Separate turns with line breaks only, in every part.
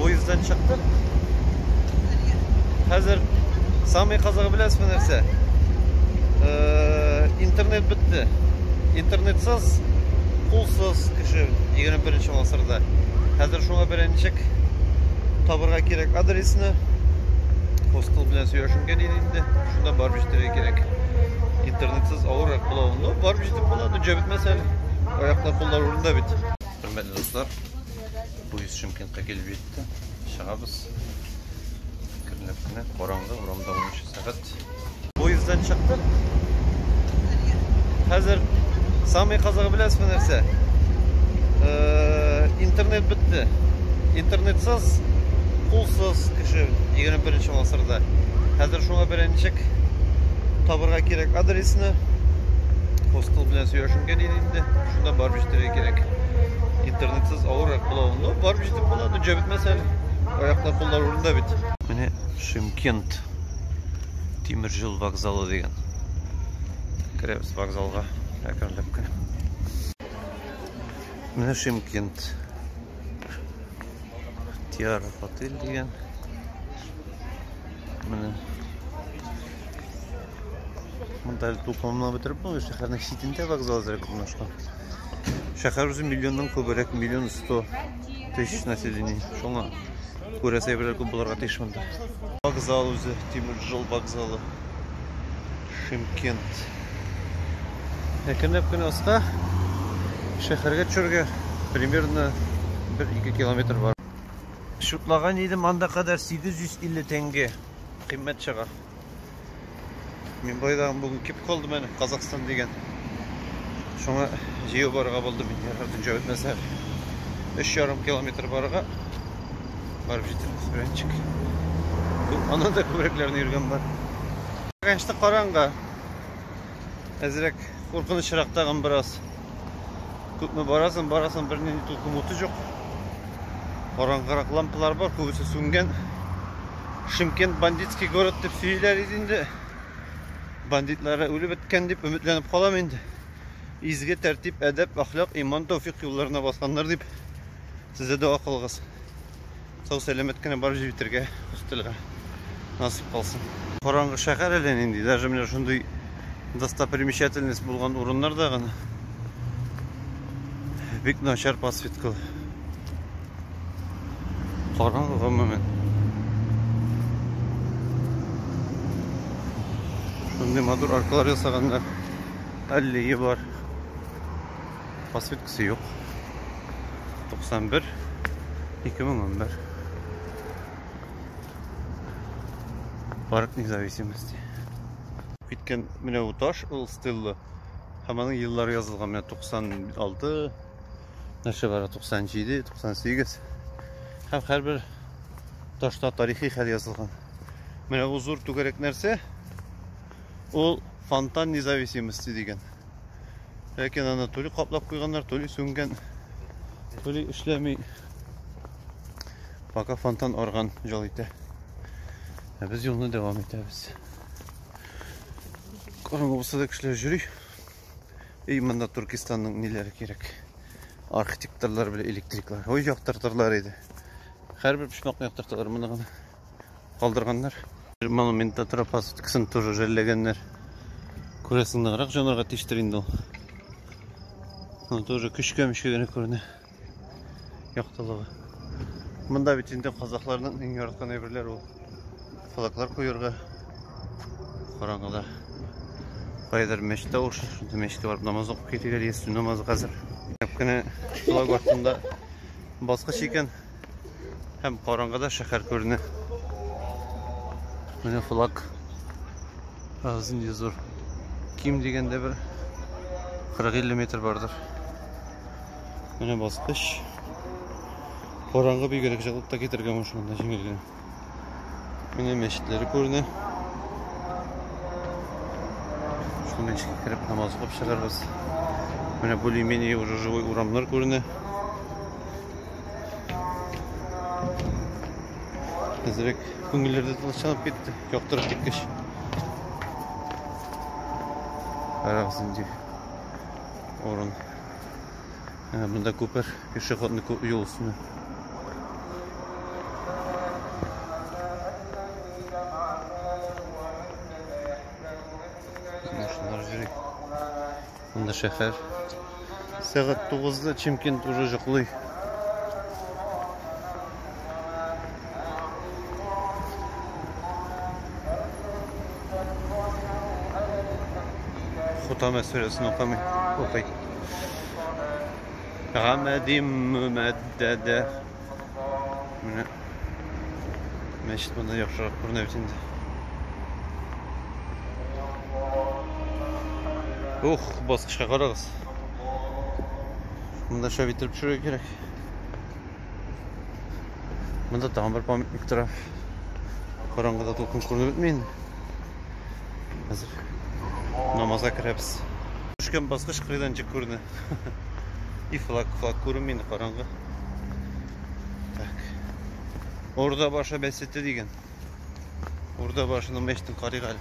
Поезддан чыктык. Хәзер самый кызыгы беләсезме нәрсә? Э, интернет бетте. Интернетсыз, кулсыз кеше 21 гасырда. Хәзер шуңа бирә ничек табырга кирәк адресны. Постыл белән сөйләшенгән иде инде. Шунда барып җитәргә кирәк. Интернетсыз авыр була. Ну, барып җитеп була, дөрҗә бетмәсә әле. Аяклар, куллар урында бит. Хөрмәтле дуслар, Поезд Шымкентка килеп җитте. Чыгабыз. Кернеп кенә караңгы урамда 10 сәгать. Поезддан чыктык. Хәзер самый казагы беләсезме нәрсә? Э, интернет бетте. Интернетсыз, кулсыз кеше 21 нче гасырда. Хәзер шуңа бирә ничек табырга кирәк адресны. Постыл белән сөйләшенгән инде. Шунда барып җитәргә кирәк. Интернетсыз авыррак була ул. Ну, барып җитеп була, ну, җәбетмәс әле. Аяклар, куллар урында бит. Менә Шымкент тимер юл вокзалы дигән. Керәбез вокзалга әкренләп кенә. Менә Шымкент. Тиара отель дигән. Менә Монда әле туплануны бетереп булмый, шәһәрнең читендә вокзал әзрәк урнашкан. Шәһәр үзе миллионнан күбрәк, миллион сто тысяч население. Шуңа күрә сәйберләр күп булырга тиеш монда. Вокзал үзе, тимер жол вокзалы. Шимкент. Әкренләп кенә аска шәһәргә төшәргә примерно 1-2 километр бар. Шутлаган идем анда кадәр 850 тәңге. Кыйммәт чыга. Мин байдан бүген кеп калды менә Казахстан дигән. Шуңа җыю барырга булды мин ярар дөнҗә үтмәсә. 3,5 километр барырга барып җитәрбез беренчек. Аннан да күбрәкләрне йөргән бар. Конечно, караңгы. Әзрәк куркынычрак тагын бераз. Күпме барасын, барасын бер нинди тулкын уты жоқ. Караңгырак лампалар бар, күбесе сүнгән. Шымкент бандитский город дип сөйләр иде инде. Бандитлары үлеп беткән дип өметләнеп калам инде. Изге тәртип, әдәп, әхлак, иман, тәүфик юлларына басканнар дип сездә дога кылгыз. сау сәләмәт кенә барып җитәргә өстәлгә насып калсын. Караңгы шәһәр әле нинди, даже менә шундый достопримечательность булган урыннарда гына бик начар подсветка. Караңгы гомумән. Шундый матур аркалар ясаганнар. Аллея бар. Посветкасы юк. 91 2011. Парк независимости. Киткән менә бу таш ул стелла. Һәм аның еллары язылган менә 96 нәрсә бара 97 98 һәм һәрбер ташта тарихи хәл язылган менә бу зур түгәрәк нәрсә ул фонтан независимости дигән Ләкин аны түли каплап куйганнар, түли сүнгән. Түли эшләми. Пока фонтан орган жол итә. Ә без юлны дәвам итәбез. Караңгы булса да кешеләр йөри. И монда Туркестанның ниләре кирәк? Архитекторлар белән электриклар. Ой, яктыртырлар иде. Һәрбер почмакны яктырталар моны гына. калдырганнар. Монументта тора пасыткасын тоже жәлләгәннәр. Күрәсең, ныграк җанарга тиштер инде ул. Аны тоже көчкәмешкә генә күренә. Яктылыгы. Монда бит инде казакларның иң яраткан әйберләре ул. Флаглар куярга. Караңгыда. Кайдыр мәчет тавышы, шунда мәчеткә барып намаз укып китегәр, ястү намазы хәзер. Кенә флаг артында баскыч икән. Һәм караңгыда шәһәр күренә. Менә флаг. Азын зур. Ким дигәндә бер 40-50 метр бардыр. Менә баскыч. Караңгы бигрәк җылытта китергән машинада җиңел генә. Менә мәчетләре күренә. Шул мәчеткә кереп намаз укып чыгарбыз. Менә более-менее уже живой урамнар күренә. Әзрәк күңелләрдә тынычланып китте, яктырып киткәч. Карагыз инде. Урын. Ә, монда күпер, пешеходный юл өстенә. Машиналар йөри. Монда шәһәр. Сәгать 9-да Чемкент уже җоклый. Хутама сүрәсен укымый, укый. Гамәдим мөмәддәдә. Менә мәчет монда яхшырак күренә бит инде. Ух, баскычка карагыз. Монда шәп иттереп төшерергә кирәк. Монда тагын бер памятник тора. Караңгыда тулкын күренеп бетми инде. Хәзер намазга керәбез. Төшкән баскыч кырыйдан җик күренә. И флаг, флаг күренми инде караңгы. Так. Урда башы бәсете дигән. Урда башының мәчетен карыйк әле.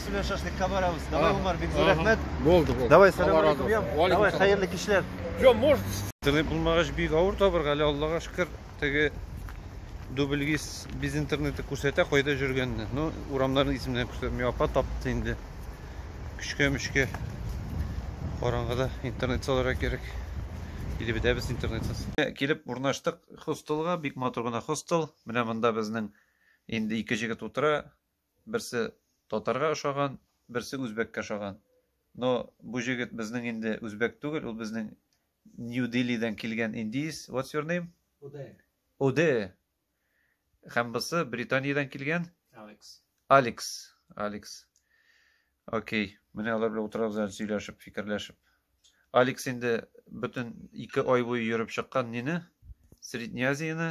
Сүләр шашлыкка барабыз. Давай, Умар,
бик зур рәхмәт. Булды,
булды. Давай, сәлам алейкум, ям. Давай, хәерле кичләр.
Ё, может... Интернет булмагач
бик авыр табырга, әле Аллага шөкер, теге дубльгиз без интернеты күрсәтә кайда жүргәнне. Ну, урамнарны исемнәрен күрсәтми, апа тапты инде. Көчкә-мөчкә караңгыда интернет салырга кирәк. Или бетәбез интернетсыз. Килеп урнаштык хостелга, бик матур гына хостел. Менә монда безнең инде ике җегет утыра. Берсе татарга ошаган, берсе үзбәккә ошаган. Но бу җегет безнең инде үзбәк түгел, ул безнең Нью-Делидән килгән индиец. What's your name? Уде. Уде. Һәм бусы Британиядән килгән? Алекс. Алекс. Алекс. Окей. Менә алар белән утырабыз әле сөйләшеп, фикерләшеп. Алекс инде бөтен ике ай буе йөреп чыккан нине? Среднеазияне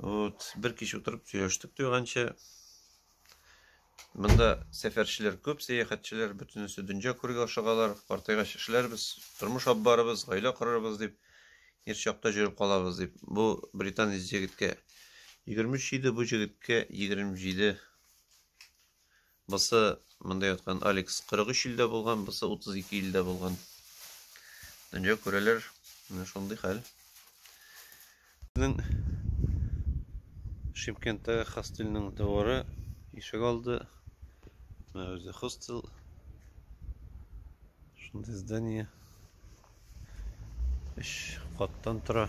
Вот, бер кич утырып сөйләштек туйганчы. Монда сәфәрчеләр күп, сәяхәтчеләр, бөтенесе дөнья күргә ашыгалар. Картайгач эшләрбез, тормыш алып барабыз, гаилә корырбыз дип, ир чакта җөреп калабыз дип. Бу британ җегеткә 23 иде, бу җегеткә 27 Бусы монда яткан Алекс 43 илдә булган, бусы 32 илдә булган. Дөнья күрәләр, менә шундый хәл. Шимкенттәге хостелның дворы ишек алды. Менә үзе хостел. Шундый здание. Өч каттан тора.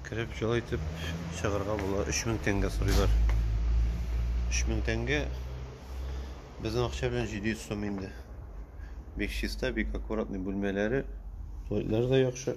Кереп җылы итеп чыгарга була. 3000 тәңгә сорыйлар. 3000 тәңгә безнең акча белән 700 сум инде. Бик чиста, бик аккуратный бүлмәләре. Туалетлары да яхшы.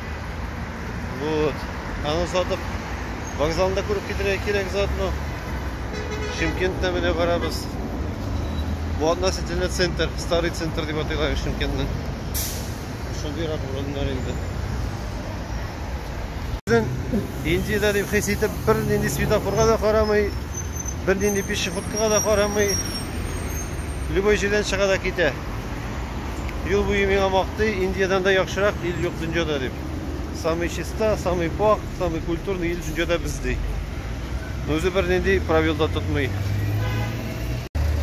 Вот. Аны сатып, вокзалны да күреп китергә кирәк заодно. Шимкентне менә барабыз. Бу относительно центр, старый центр дип атыйлар Шимкентның. Шундыйрак урыннар инде. Безнең Индиядә дип хис итеп, бернинди светофорга да карамый, бернинди пешеходка да карамый, любой җирдән чыга да китә. Юл буе миңа мактый, Индиядән дә яхшырак ил юк дөньяда дип. Самый чиста, самый пак, самый культурный ил дөньяда без ди. Үзе бер нинди правил да тотмый.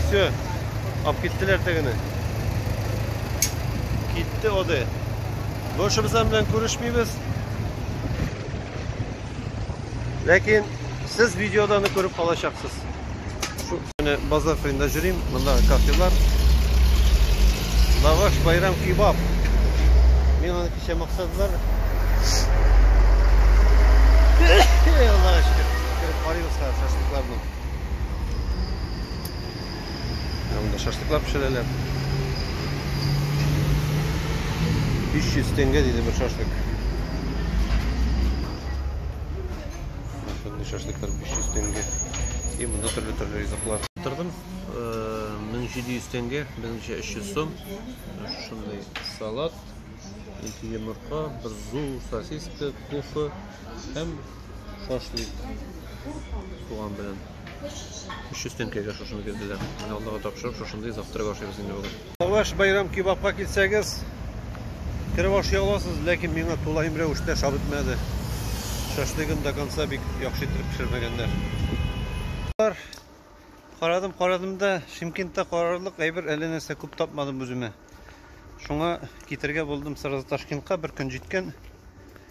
Все. Ап киттеләр тегене. Китте оды. Бошыбыз белән күрешмибез. Ләкин сез видеодан күреп калачаксыз. Менә базар кырында йөрим, монда кафелар. Лаваш байрам кебаб. Мин аны кичә максадылар. Аллага шөкер, кереп карыйбыз хәзер шашлыкларны. Монда шашлыклар пешерәләр. 300 тенге диде бер шашлык. Шундый шашлыклар 500 тәңгә. И монда төрле-төрле ризыклар. Тордым 1700 э, тәңгә, безнеңчә 300 сум. Шушындый салат, ике йомырка, бер зу, сосиска, кофе һәм шашлык. Туган белән. 300 тәңгәгә шушыны бирделәр. Менә Аллага тапшырып, шушындый завтрак ашыйбыз инде бүген. Тавыш Байрам кебабка килсәгез, кереп ашый аласыз, ләкин миңа тулаем рәвештә шап итмәде. Шашлыгын до конца бик яхшы итеп пешермәгәннәр. Карадым, карадым да, Шимкентта карарлык әйбер әллә нәрсә күп тапмадым үземә. Шуңа китергә булдым сразу Ташкентка, бер көн җиткән.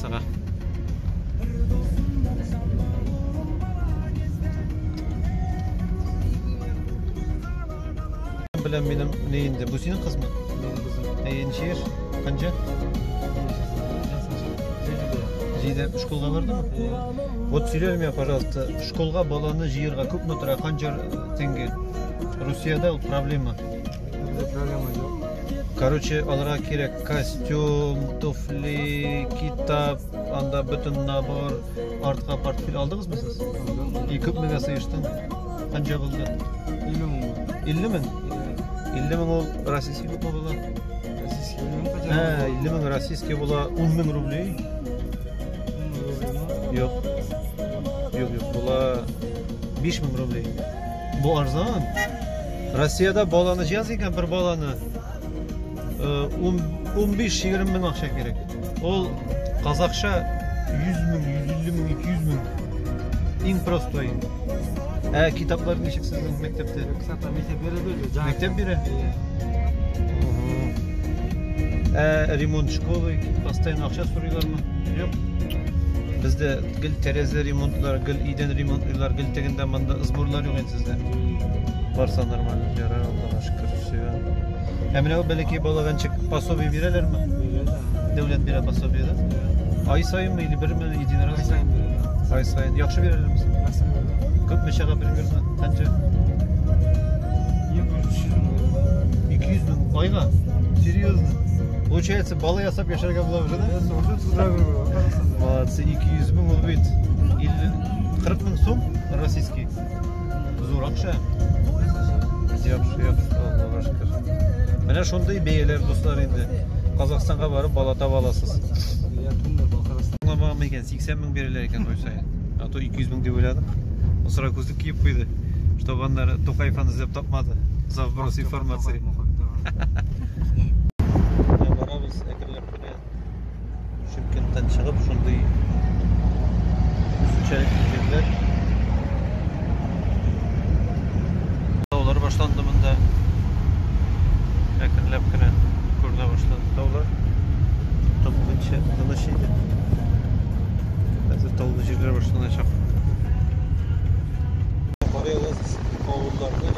Сага. Белән минем не инде. Бу синең кызмы? Әйе, ничә яшь? Канча? Җидә школга бардымы? Вот сөйләр миңа, пожалуйста, школга баланы җыярга күпме тора? Канча тенге? Русиядә ул проблема. Проблема юк. Короче, аларга кирәк Костюм, туфли, китап, анда бөтен набор, артка портфель алдыгызмы сез? И күп меңгә сыештың? Канча булды? 50 мең. 50 мең? 50 мең ул российский күпме була? Российский мең кадәр. Ә, 50 мең российский була 10 мең рубли. Юк. Юк, юк, була 5 мең рубли. Бу арзан. Россиядә баланы җаз икән бер баланы. 15-20 мең акча кирәк. Ул казахча 100 мең, 150 мең, 200 мең. Иң простой. Ә китаплар ничек сезнең мәктәптә? Китапта мәктәп бирә
бит. Мәктәп бирә?
Ә ремонт школы постоянно акча сорыйлармы? Юк. Бездә гел тәрәзә ремонтлар, гел идән ремонтлар, гел тегендә монда сборлар юк инде сездә. Барса нормально, ярар, Аллага шөкер, все. Ә менә ул бәләкәй балага ничек пособие бирәләрме? Дәүләт бирә пособие, да? Ай саенмы или берме един раз? Ай саен бирәләр. Ай саен. Яхшы бирәләрме? Яхшы бирәләр. Күпме чага бер бирмә? Канча? 200 мең айга? Серьезно? Получается, бала ясап яшәргә була уже, да? Молодцы, 200 мең ул бит. 40 мең сум российский. Зур акча. Яхшы, яхшы, Аллага шөкер. Менә шундый бәяләр дуслар инде. Казахстанга барып бала таба аласыз. Я думаю, Балкарас. Аңламаган икән, 80 мең бирелә икән той саен. А то 200 мең дип уйладык. Мусора күзлек киеп куйды, чтобы аннары Тукаев аны эзләп тапмады. За вброс информации. Ә барабыз әкренләп кенә. Шымкенттан чыгып, шундый үзенчәлек килгәннәр. Таулар башланды монда. Әкренләп кенә күренә башлады таулар. Тып буенча тыныч иде. Хәзер таулы җирләр башланачак. Карыйгыз, авылларны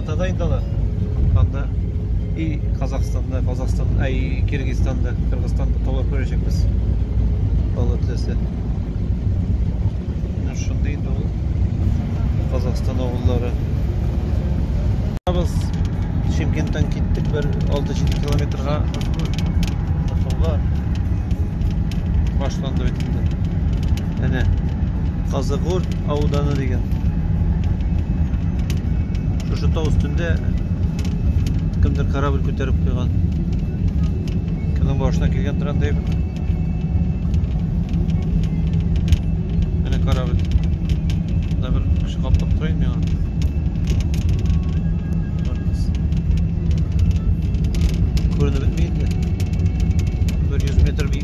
Кытайда инде алар. Анда и Казахстанда, Казахстан, ай Киргизстанда, Кыргызстанда товар күрәчәкбез. Алла теләсә. Менә шундый инде ул Казахстан авыллары. Без Шимкенттан киттек бер 6-7 километрга. Башланды бит инде. Әнә, Казыгур ауданы дигән. Шушы тау өстендә кемдер корабль күтәреп куйган. Кемнең башына килгән трандай бит. Әнә корабль. Да бер кеше каплап тора инде миңа. Күренеп бетми инде. Бер 100 метр бик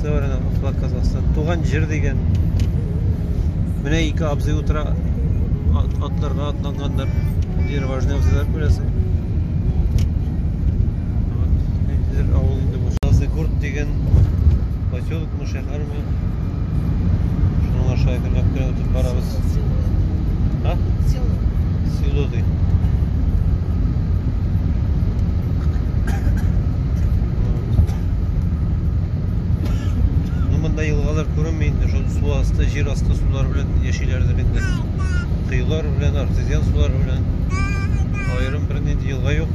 Говорят,
она туда Казахстан. Туган җир дигән. Менә ике абзый утыра ат, атларга атланганнар. Дир важный абзыйлар күрәсең. Ниндидер авыл инде бу. Сазыгурт дигән поселок мы шәһәр бу. Шуның аша әкренләп кенә үтеп барабыз. А? Село. Село ди. Ну, монда елгалар күренми инде, шул су асты, җир асты сулары белән яшиләрдер инде. Коелар белән, артезиан сулары белән. Аерым бер нинди елга юк.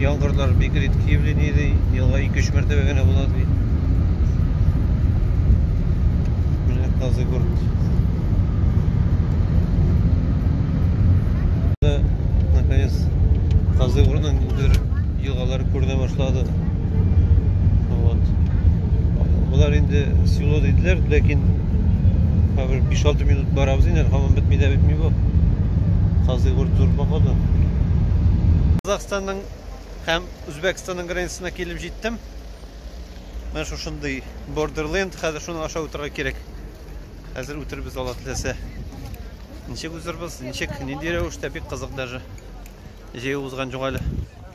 Яңгырлар бик редки явление ди. Елга 2-3 мәртәбә генә була ди. Менә Казыгурт. Наконец, Казыгуртның елгалары күренә башлады. Вот. Болар инде село диделәр, ләкин хәзер 5-6 минут барабыз инде, һаман бетми дә бетми бу. Казый гүр тур бакады. Казахстанның һәм Үзбәкстанның границасына килеп җиттем. Менә шушындый Borderland, хәзер шуны аша үтәргә кирәк. Хәзер үтербез ала теләсә. Ничек үзербез, ничек, нинди рәвештә бик кызык даже. Җәй узган җуңале.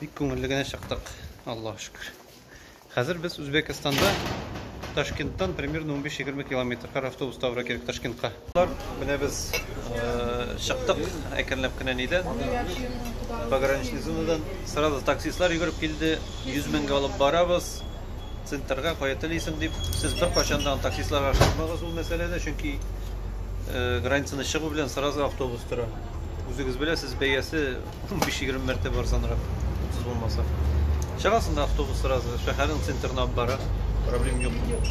Бик күңелле генә чыктык, Аллаһ шөкер. Хәзер без Үзбекстанда Ташкенттан примерно 15-20 километр кар автобус тавра кирәк Ташкентка. Менә без э, чыктык әкренләп кенә нидән. Пограничный зонадан сразу таксистлар йөгереп килде. 100 меңгә алып барабыз. Центрга кая телисең дип. Сез бер качан да таксистларга шыкмагыз ул мәсьәләдә, чөнки э, границаны чыгу белән сразу автобус тора. Үзегез беләсез, бәясе 15-20 мәртәбә арзанрак, 30 булмаса. Чыгасың да автобус сразу, шәһәрнең центрына алып бара, проблем юк.